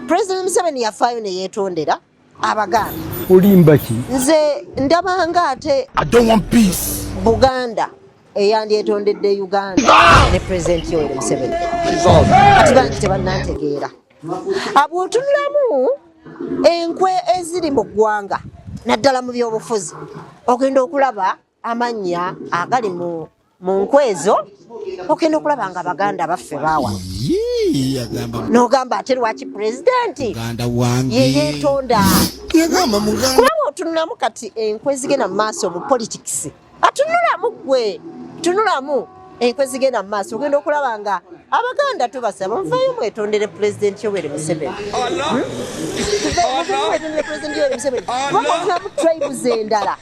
President Museveni yafaayo ne yeetondera Abaganda. Olimba ki? Nze ndabanga ate I don't want peace. Buganda eyandyetondedde Uganda ah! ne President Yoweri Museveni. Kibangi tebannantegeera. Abwotunulamu enkwe eziri mu ggwanga naddala mu byobufuzi ogenda okulaba amannya agali mu mu nkwezo ogenda okulaba nga baganda baffe baawa nogamba ate lwaki pulezidenti yeyetonda kulaba otunulamu kati enkwe zigenda mu maaso mu politics atunulamu gwe tunulamu enkwe zigenda mu maaso ogenda okulaba nga abaganda tubasaba muvayo mwetondere pulezidenti yoweri museveni hmm? muvayo mwetondere pulezidenti yoweri museveni kuba mutunamu tribes endala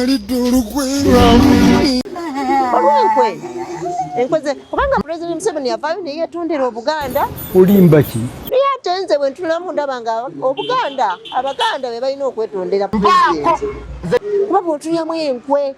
alidde olukwe olwenkwe enkoze kubanga president museveni yavaayo naye yetondera obuganda olimba ki naye ate nze bwe ntunulamu ndaba nga obuganda abaganda be balina okwetondera president kuba bwotunyamu enkwe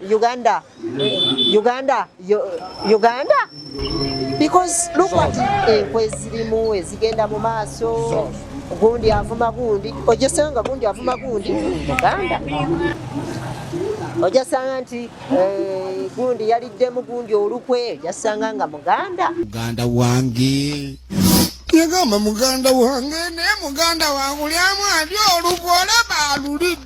Uganda. Uganda. Uganda. Because look what enkwe eh, zirimu ezigenda mu maaso gundi avuma gundi ojeseyo nga gundi avuma gundi muganda ojasanga nti eh, gundi yaliddemu gundi olukwe ojasanga nga muganda muganda wange yagamba muganda wange naye muganda wange ulyamu adi olukwe olaba alulidde